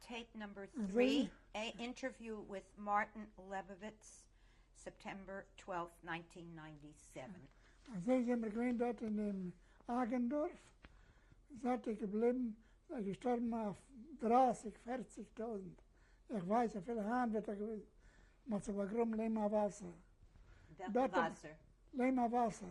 טעיפ נאמבער טרי, א אינטערוויו וויט מארטין לעבאוויטץ, סעפטעמבער טוועלווט ניינטין ניינטי סעווען. אזוי זעמער געווען דארט אין דעם אייגען דארף, זייטיג געבליבן, זיי געשטארבן אויף דרייסיג פערציג טויזענט, איך ווייס אפילו היינט וועט ער געווען מצבה גרום לעם הוואסער, לעם הוואסער.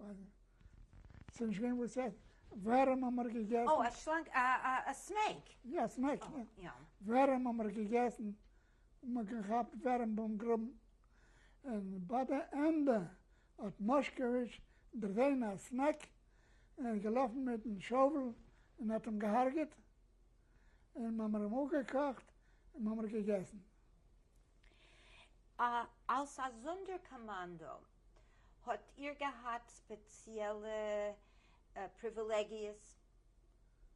און ס'איז נישט געווען וואס עסן, ווערים האמער געגעסן. אוי, א שלאנג, א סנעיק. יא, סנעיק, יא. ווערים האמער געגעסן, מ'האט געכאפט ווערים ביים גראבן, און ביי די ענדע האט מאשקאוויטש דערזען א סנעיק, און ער איז געלאפן מיטן שאוול און האט אים געהארגעט, און מ'האמער אים אפגעקאכט און מ'האמער געגעסן. אלס א זאנדער קאמאנדא האט איר געהאט ספעציעלע פריווילעגיעס?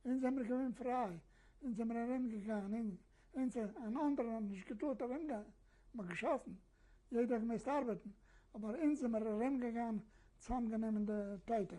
אונז זעמיר געווען פריי, אונז זעמיר ארום געגאנגען אין אונז, אן אנדערער האט נישט געטארט ארום גיין, מ'האט געשאסן, יעדער האט געמוזט ארבעטן, אבער אונז זעמיר ארום געגאנגען צוזאם גענומען די טעטער.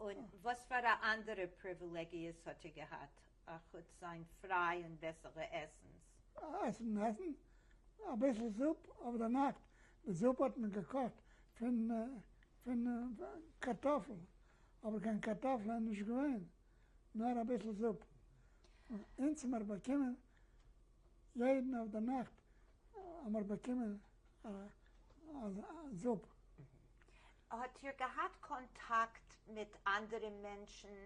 און וואס פאר א אנדערע פריווילעגיעס האט איר געהאט א חוץ זיין פריי און בעסערע עסנס? עסן עסן, אביסל זופ אויף דער נאכט, די זופ האט מען געקאכט פון קארטאפל, אבער קיין קארטאפל איז נישט געווען, נאר אביסל זופ, אונז האמער באקומען יעדן אויף דער נאכט האמער באקומען זופ. האט איר געהאט קאנטאקט מיט אנדערע מענטשן,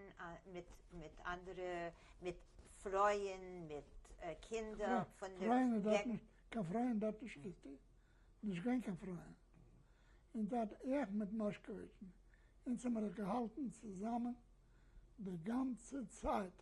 מיט מיט אנדערע, מיט פרויען, מיט קינדער פון די געגנט? קיין פרויען דארט נישט קיסטי, נישט געווען קיין פרויען אין דארט, איך מיט מאשקאוויטשן, אונז האמיר זיך געהאלטן צוזאמען די גאנצע צייט,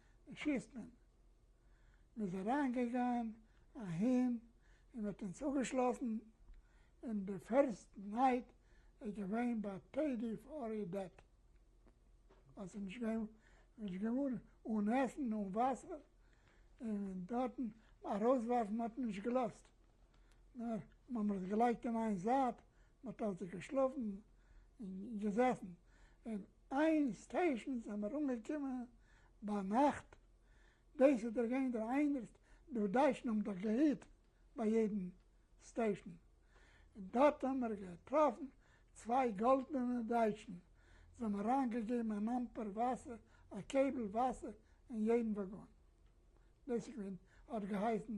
שיסט מען. מען איז אריינגעגאן אהין און האט אונז אפגעשלאסן און די פירסט נייט איז געווען ביי טעדי פאר איר בעט. האט זיך נישט געווען נישט געווארן אן עסן אן וואסער און דארטן ארויסווארפן האט מען נישט געלאזט. נאר מען האט געלייגט אין איין זייט, מען האט אלזא געשלאפן און געזעסן, און איין סטעישן זעמער אנגעקומען ביינאכט, דאס איז דער געווען דער איינערסט, די דייטשן האבן דאך געהיט ביי יעדן סטעישן, און דארט האמער געטראפן צוויי גאלדענע דייטשן, זיי האבן אריין געגעבן אן אמפער וואסער, א קעבל וואסער, אין יעדן וואגאן, דאס איז געווען האט געהייסן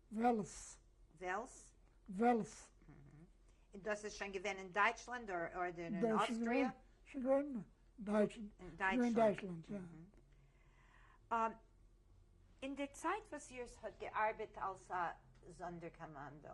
וועלס. וועלס? וועלס. און דאס איז שוין געווען אין דייטשלאנד אדער אין אוסטריע? שוין געווען אין דייטשלאנד. אין די צייט וואס איר האט געארבעט אלס א זאנדער קאמאנדא,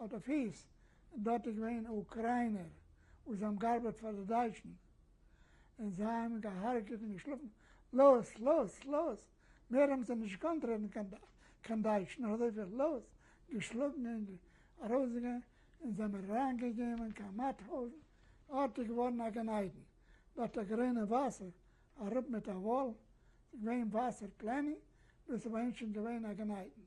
האט א פיס, דארט איז געווען אוקריינער וואס זיי האבן געארבעט פאר די דייטשן און זיי האבן געהארגעט און געשלאגן, לאז לאז לאז, מער האבן זיי נישט געקאנט רעדן קיין דייטש נאר אזויפיל לאז, געשלאגן און ארויסגעגאנגען און זיי האבן אריינגעגעבן קיין מאטהויזן, ארט איז געווארן א גן עדן, דארט איז גערינען וואסער אראפ מיט א וואל, ס'איז געווען וואסער פלעני, דאס איז ביי אונז שוין געווען א גן עדן.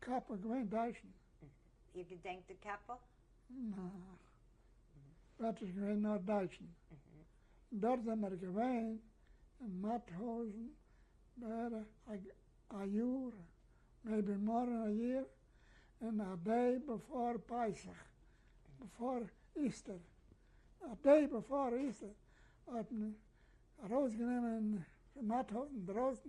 קאפא געווען דייטשן? איר געדענקט די קאפא? נעכ. דארט איז געווען נאר דייטשן. דארט זעמער געווען אין מאטהויזן בערך א יאר, מעיבי מאר דען א יער, און א דעי בעפאר פסח, בעפאר איסטער, א דעי בעפאר איסטער האט מען ארויסגענומען פון מאטהויזן אינדרויסן,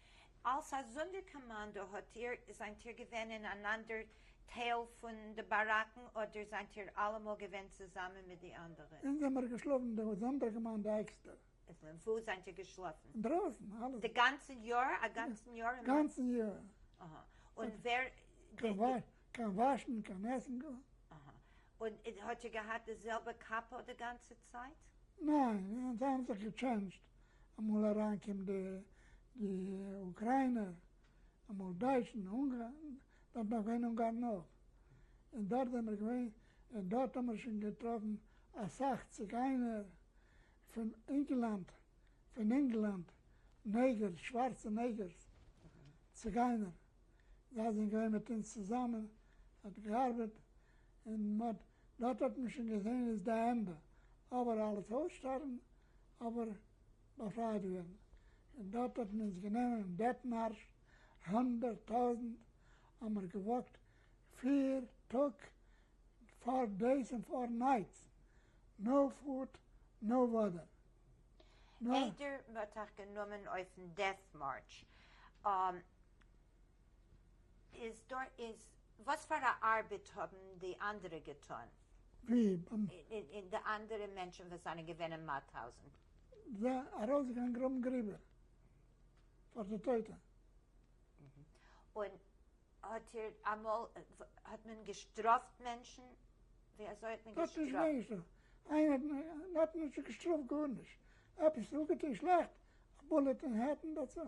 אלס א זאנדער קאמאנדא האט איר, זענט איר געווען אין אן אנדער טייל פון די באראקן אדער זענט איר אלעמאל געווען צוזאמען מיט די אנדערע? אונז זעמער געשלאפן די זאנדער קאמאנדא עקסטער. און וואו זענט איר געשלאפן? אינדרויסן, אלעס. די גאנצע יאר? א גאנצן יאר אין. גאנצן יאר. אהה. און ווער. קיין וואשן, קיין עסן, גארנישט. אהה. און האט איר געהאט די זעלבע קאפל די גאנצע צייט? ניין, זיי האבן זיך געטשענדזשט. אמאל אריין קומט די די אוקריינער אמאל דייטשן אונגארן דארט נאך געווען אונגארן אויך און דארט זעמער געווען און דארט האמער שוין געטראפן אסאך ציגיינער פון ענגלאנד פון ענגלאנד נעגערס שווארצע נעגערס ציגיינער זיי זענען געווען מיט אונז צוזאמען האט געארבעט און מ'האט דארט האט מען שוין געזעהן איז די ענדע אבער אלעס אויסשטארבן אבער באפרייט געווארן, פון דארט האט מען אונז גענומען דעט מארש, הונדערט טויזענט האמער געוואקט פֿיר טאג, פֿאר דעיס און פֿאר נייטס, נאו פוד נאו וואדער, נאו. איידער מען האט אייך גענומען אויפן דעט מארטש, איז דארט איז וואס פאר א ארבעט האבן די אנדערע געטון? ווי? ביים. אין די אנדערע מענטשן וואס זענען געווען אין מאטהאוזן? זיי ארויסגעגאנגען גראבן גריבער פאר די טויטע. און האט איר אמאל האט מען געשטראפט מענטשן? ווי אזוי האט מען געשטראפט? דארט נישט געווען געשטראפט. איינער האט מען נישט געשטראפט גארנישט. עפעס אפגעטון שלעכט, א בולעט אין העט און דעטס אלל.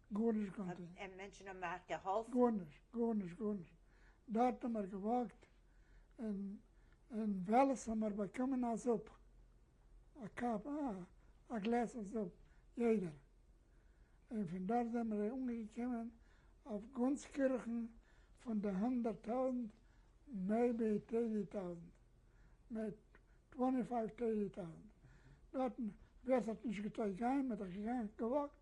גארנישט גאנטער. האבן עם מענטשן האבן אייך געהאלפן? גארנישט גארנישט גארנישט. דארט האמער געוואקט און און וועלעס האמער באקומען א זופ. א קאפ א א גלעזל זופ יעדער. און פון דארט זעמער אנגעקומען אויף גאנץ קירכן פון די הונדערט טויזענט מער ווי טעיטי טאוזענט. מער טווענטי פייוו טעיטי טאוזענט. דארטן ווער ס'האט נישט געטויגט גיין מ'האט דאך געגאנגען געוואקט.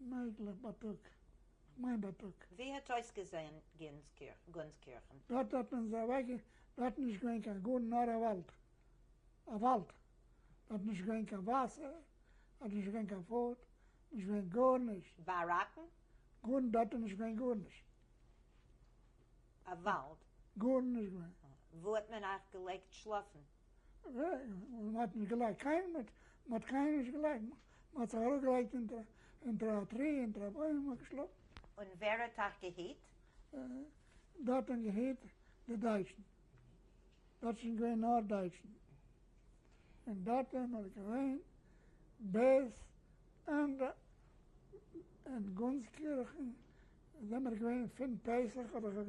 מייגליך בייטאג, כ'מיין בייטאג. ווי האט אויסגעזעהן גונסקירכן? דארט האט מען זיי אוועק גע. דארט איז נישט געווען קיין גארטן נאר א וואלד. א וואלד. דארט איז נישט געווען קיין וואסער. דארט איז נישט געווען קיין פוד. נישט געווען גארנישט. באראקן? גארן דארט איז נישט געווען גארנישט. א וואלד. גארן נישט געווען. וואו האט מען אייך געלייגט שלאפן? און מ'האט נישט געלייגט קיינעם, מ'האט קיינעם נישט געלייגט, מ'האט זיך אראפגעלייגט אונטער א טרי, אונטער א בוים און געשלאפן. און ווער האט אייך געהיט? דארט האבן געהיט די דייטשן, דארט איז שוין געווען נאר דייטשן, און דארט איז נאך געווען בית ענדרא און גאנצקירכן, זעמער געווען פון פסח האב איך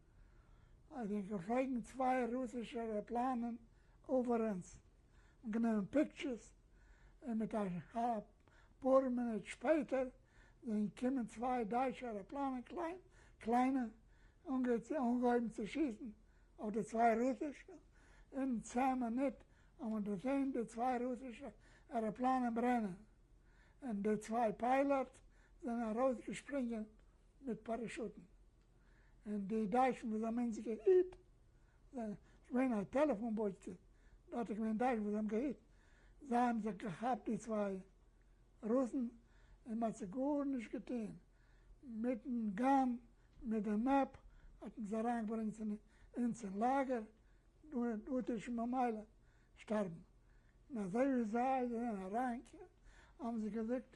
האט ער געפלויגן צוויי רוסישע עראפלאנען אובער אונז און גענומען פיקטשערס, און מיט א אפאר מינוט שפעטער זענען געקומען צוויי דייטשע עראפלאנען קליין קליינע אנגעהויבן צו שיסן אויף די צוויי רוסישע, אין צען מינוט האט מען דערזעהן די צוויי רוסישע עראפלאנען ברענען און די צוויי פיילאטס זענען ארויסגעשפרינגען מיט פאראשוטן. און די דייטשן וואס האבן אונז געהיט זענען געווען א טעלעפאן בודקע, דארט איז געווען דייטשן וואס האבן געהיט, זיי האבן זיך געכאפט די צוויי רוסן און מען האט זיך גארנישט געטון, מיטן גאן מיט די מעפ האט אונז אריינגעברענגט צו אונז אין לאגער, דא טושן ממילא שטארבן, און אזוי ווי זיי זענען אריינגעקומען האבן זיי געזאגט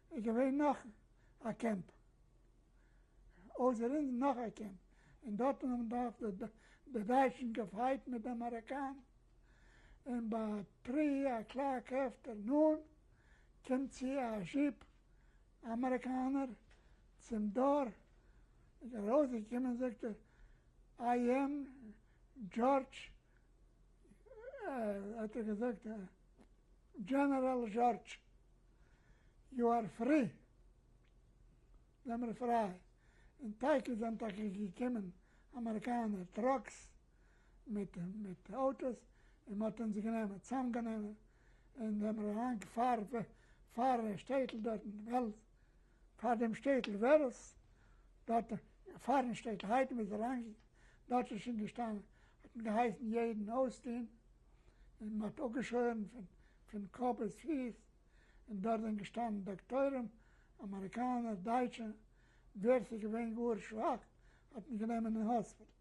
איז געווען נאך א קעמפ, אויסער אונז נאך א קעמפ, און דארטן האבן דאך די דייטשן געפייט מיט די אמעריקאנער, און ביי טרי א קלאק עפטער נאן קומט צו א זשיפ אמעריקאנער צום דאר, איז ער ארויסגעקומען זאגט ער איי עם דזשארדזש האט ער געזאגט. דזשענעראל זשארדזש, יו אר פרי! זעמער פריי! און טאקע עס זענען טאקע געקומען אמעריקאנער טראקס מיט מיט אויטאס און מ'האט אונז גענומען צוזאמגענומען און זעמער אריין געפארן פאר פאר א שטעטל דארטן וועלס פאר דעם שטעטל וועלס דארט פארן שטעטל היידן מ'איז אריין דארט איז שוין געשטאנען האט מען געהייסן יעדן אויסטוהן און מ'האט אפגעשוירן פון קאפ ביז פיס, און דארט זענען געשטאנען דאקטוירים, אמעריקאנער, דייטשע, ווער ס'איז געווען גאר שוואך האט מען גענומען אין האספיטל,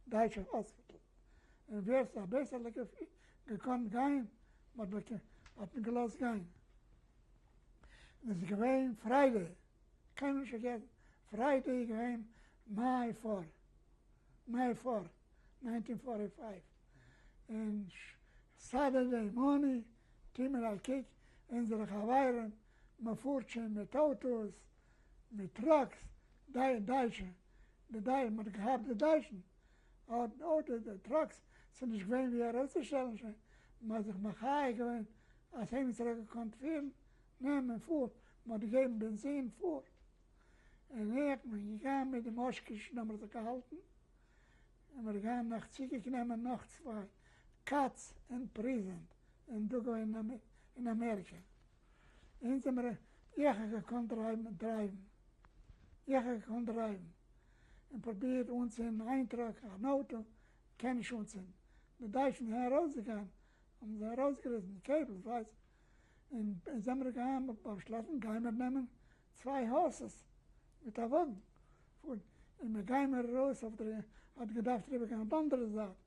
דייטשע האספיטל, און ווער ס'האט אביסעלע געקאנט גיין האט מען געלאזט גיין. און עס איז געווען פריידעי, קיינמאל נישט פארגעסן, פריידעי איז געווען מעי פאר, מעי פארט, ניינטין פארטי פייוו, און סאטערדעי מארני טוה מיר א קוק אונזערע חברים מפארט שוין מיט אויטאס מיט טראקס די דייטשע די דיי מען האט געכאפט די דייטשן האט אויטאס די טראקס סאיז נישט געווען ווי ארויסצושטעלן שוין מען האט זיך מחיה געווען אז היימיט זאל איך געקאנט פירן נעם און פאר מען האט געגעבן בענזין פאר און איך בין געגאנגען מיט די מאשקעשן האבן מיר זיך געהאלטן און מיר גייען נאך צוקיק נעמען נאך צוויי קאטס אין פריזענט אין דאגא אין אמעריקע. אונז האמיר איך האב געקאנט דרייוון איך האב געקאנט דרייוון און פרובירט אנצינדן איין טראק אן אויטא קען נישט אנצינדן די דייטשן זענען ארויסגעגאנגען האבן זיי ארויסגעריסן די קעיבלס ווייסט און זעמיר געגאנגען באשלאסן גיימיר נעמען צוויי הארסעס מיט א וואגן פון און מיר גייען מיר ארויס אויף דער האט געדארפט אריבער גיין אויף די אנדערע זייט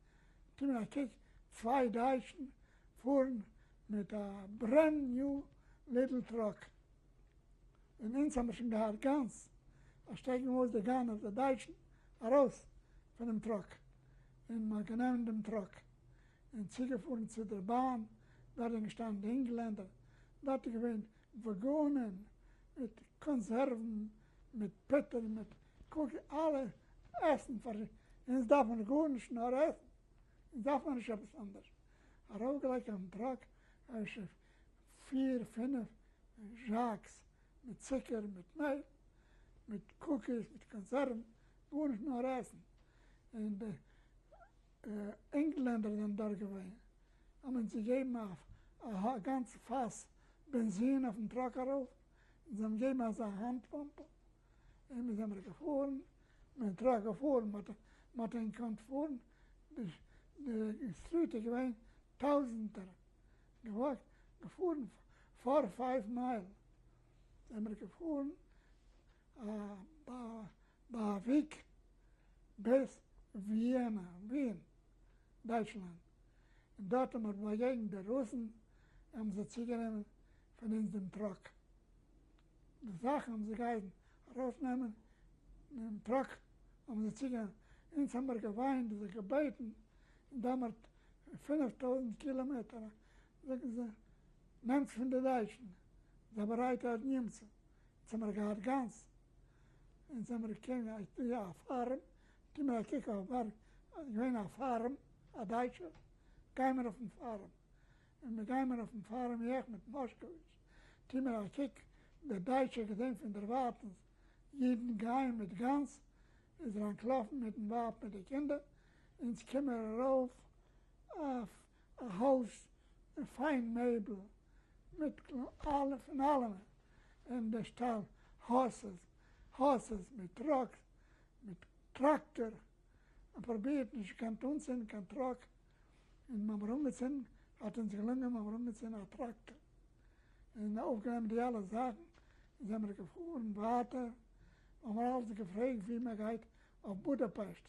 קומען א קוק צוויי דייטשן פארן מיט א ברענד ניו לידל טראק און אונז האמיר שוין געהאט גאנס א שטייגן אויס די גאן אויף די דייטשן ארויס פונעם טראק און מען האט גענומען דעם טראק און צוגעפארן צו דער באן דארט זענען געשטאנען די אינגלענדער דארט איז געווען וואגאנען מיט קאנזערוון מיט פיטער מיט קוקיס אלע עסן פאר אונז דארף מען גארנישט נאר עסן אונז דארף מען נישט עפעס אנדערש ארויף געלייגט אויפן טראק במשך פיר פינעף זשאגס מיט צוקער מיט מעל מיט קוקיס מיט קאנזערוון גארנישט נאר עסן און די ענגלענדער זענען דארט געווען, האבן זיי געגעבן א גאנץ פאס בענזין אויפן טראק ארויף, און זיי האבן געגעבן אזא האנט פאמפל, און מיר זעמיר געפארן, ווען טראק געפארן, מען האט אים געקאנט פארן, די סטריט איז געווען טויזענטער, געוואקט, געפארן פאר פייוו מייל, זעמיר געפארן, באוויג ביז וויען, ווין, דייטשלאנד, און דארט האבן מיר באגעגנט די רוסן, האבן זיי צוגענומען פון אונז דעם טראק. די זאכן האבן זיי געהייסן ארויפנעמען אינעם טראק, האבן זיי צוגענומען, אונז האבן מיר געוויינט, זיך געבעטן, און דאן האט פינף טויזנט קילאמעטער זאָגן זיי, נעמטס פון די דייטשן, זיי באַרייט אויף נימצים. אונז האָמיר געהאַט גאַנס, אונז האָמיר געקענט אַ טרי אַ פאַרם, קומען אַ קוק אויף באַרג, אַז איז געווען אַ פאַרם, אַ דייטשער, גיי מיר אויפן פאַרם. און מיר גיי מיר אויפן פאַרם, איך מיט מאָשקאָוויטש, טו מיר אַ קוק, דער דייטשער געזען פון דער ווייטנס יידן גייען מיט גאַנס, איז ער אַנטלאָפן מיטן ווייב מיט די קינדער, אונז קומער אַרויף אויף א הויז מיט פיין מעבל, מיט אלעם פון אלעמען, אין די שטאל הארסעס, הארסעס מיט טראקס, מיט טראקטאר, מען פרובירט נישט געקענט אנצינדן קיין טראק, און מען האמיר אנגעצינדן, האט אונז געלונגען, מען האמיר אנגעצינדן א טראקטאר, און אויפגענומען די אלע זאכן, און זעמיר געפארן ווייטער, האמיר אלץ געפרעגט ווי מען גייט אויף בודאפעשט,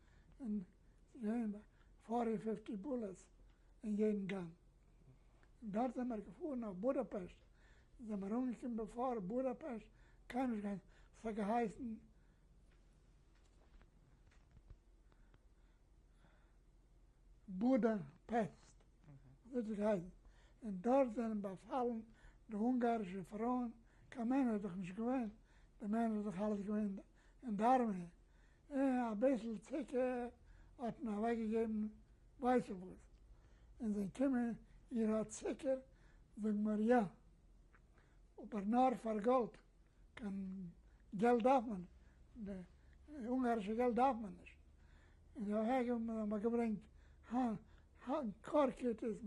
און געווען פֿור און פֿופֿציק בולעטס אין יעדן גאן. פון דארט זעמער געפארן אויף בודאפעסט, זעמער אנגעקומען בעפאר בודאפעסט קען נישט גיין, עס האט געהייסן בודא פעסט, אזוי האט עס געהייסן, און דארט זענען באפאלן די אונגארישע פרויען, קיין מענער איז דאך נישט געווען, די מענער איז דאך אלעס געווען אין די ארמיי, אה, אביסל ציקע האט מען אוועקגעגעבן ווייסעך וואס, און זיי קומען, איר האט ציקער? זאג מיר יא, אבער נאר פאר גאלד, קיין געלט דארף מען נישט, די אונגארישע געלט דארף מען נישט, און זיי האבן אוועקגעגעבן און האבן מיר געברענגט קארקיטעס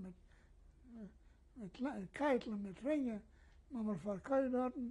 מיט קייטלען מיט רינגען, מיר האבן פארקויפט דארטן.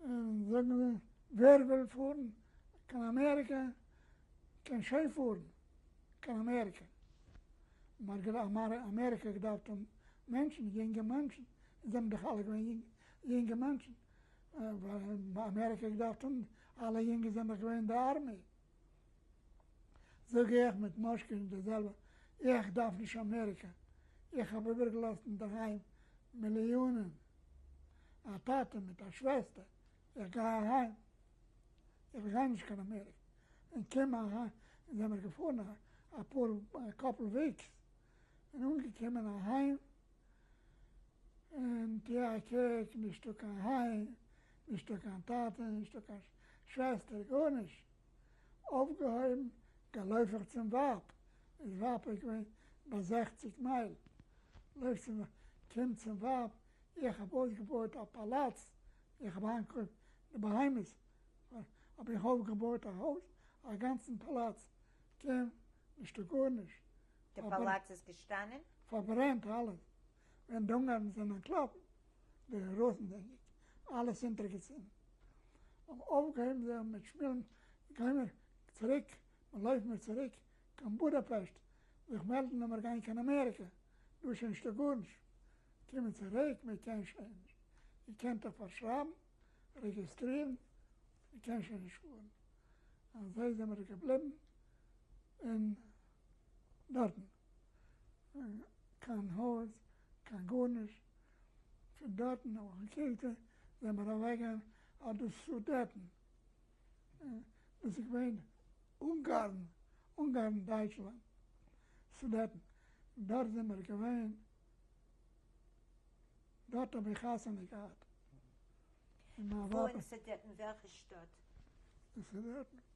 און זאגן זיי ווער וויל פארן קיין אמעריקא קען שוין פארן קיין אמעריקא, אמעריקא האט געדארפט האבן מענטשן, יונגע מענטשן, און זיי זענען דאך אלע געווען יונגע מענטשן, אמעריקא האט געדארפט האבן, אלע יונגע זענען דאך געווען אין די ארמי, זאג איך מיט מאשקע'ן די זעלבע, איך דארף נישט אמעריקא, איך האב איבערגעלאזט אינדערהיים מיליאנען, א טאטע מיט א שוועסטער, איך גיי אהיים, איך גיי נישט קיין אמעריקא, און קום אהיים, אונז זעמער געפארן אפאר קאפל וויקס, און אנגעקומען אהיים, און טו א קוק, נישטא קיין היים, נישטא קיין טאטע, נישטא קיין שוועסטער, גארנישט. אויפגעהויבן געלויף איך צום ווייב, דאס ווייב איז געווען ביי זעכציק מייל. לויף צום, קום צום ווייב, איך האב אויסגעבויעט א פאלאץ, איך האב איינגעקויפט די בהמות, האב איך אויפגעבויעט א הויז, א גאנצן פאלאץ, קום, נישטא גארנישט, די פאלאץ איז געשטאנען? פארברענט אלעס ווען די אונגארן זענען אנטלאפן, די רוסן זענען געקומען אלעס אונטערגעצינדן, אבער אויפגעהויבן זיי האבן מיט שמילן גיין מיר צוריק, מען לויפט מיר צוריק קיין בודאפעשט זיך מעלדן לאמיר גיין קיין אמעריקע, דא איז שוין נישטא גארנישט, קומען צוריק מען קען שוין נישט, איר קענט דאך פארשרייבן, רעגיסטרירן, מען קען שוין נישט גארנישט, אזוי זעמיר געבליבן און דארטן. קיין הויז, קיין גארנישט. פון דארטן אויף א קעלטע זענען מיר אוועקגעגאנגען אויף די סודעטן. דאס איז געווען אונגארן, אונגארן-דייטשלאנד, סודעטן. דארט זענען מיר געווען. דארט האב איך חתונה געהאט. וואו אין סודעטן? וועלכע שטאט? אין סודעטן.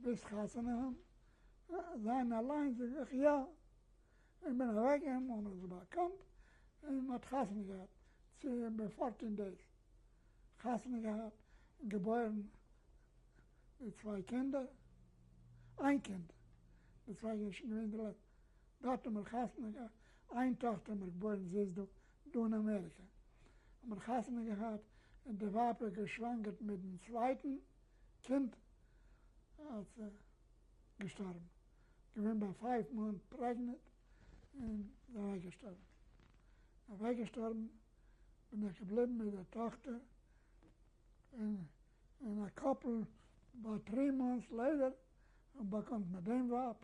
ווילסט חתונה האבן? זיין אליין זאג איך יא. איך בין אוועק געווען און מען האט זיך באקאנט און מען האט חתונה געהאט צו ב פארצן דעיס חתונה געהאט געבוירן די צוויי קינדער איין קינד די צווייטע איז שוין געווען די לעצט דארט האט מען חתונה געהאט איין טאכטער האט מען געבוירן זי איז דא דא אין אמעריקא האט מען חתונה געהאט און די ווייב האט געשוואנגערט מיטן צווייטן. קינד האט געשטארבן, געווען ביי פייוו מאנט פרעגנעט און איז אוועק געשטארבן, אוועק געשטארבן בין איך געבליבן מיט די טאכטער און און א קאפל ביי טרי מאנטס לעיטער האב באקאנט מיט דעם ווייב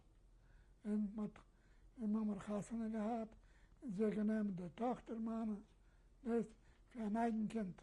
און מ'האט און מ'האמער א חתונה געהאט און זי האט גענומען די טאכטער מיינע דאס ווי אן אייגן קינד.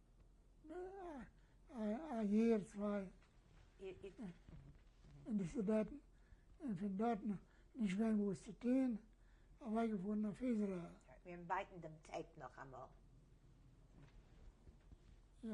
א יאר צוויי אין די סודעטן און פון דארטן נישט געווען וואס צו טון אוועק געפארן אויף איזרעאל. מיר בייטן דעם טעיפ נאכאמאל. יא.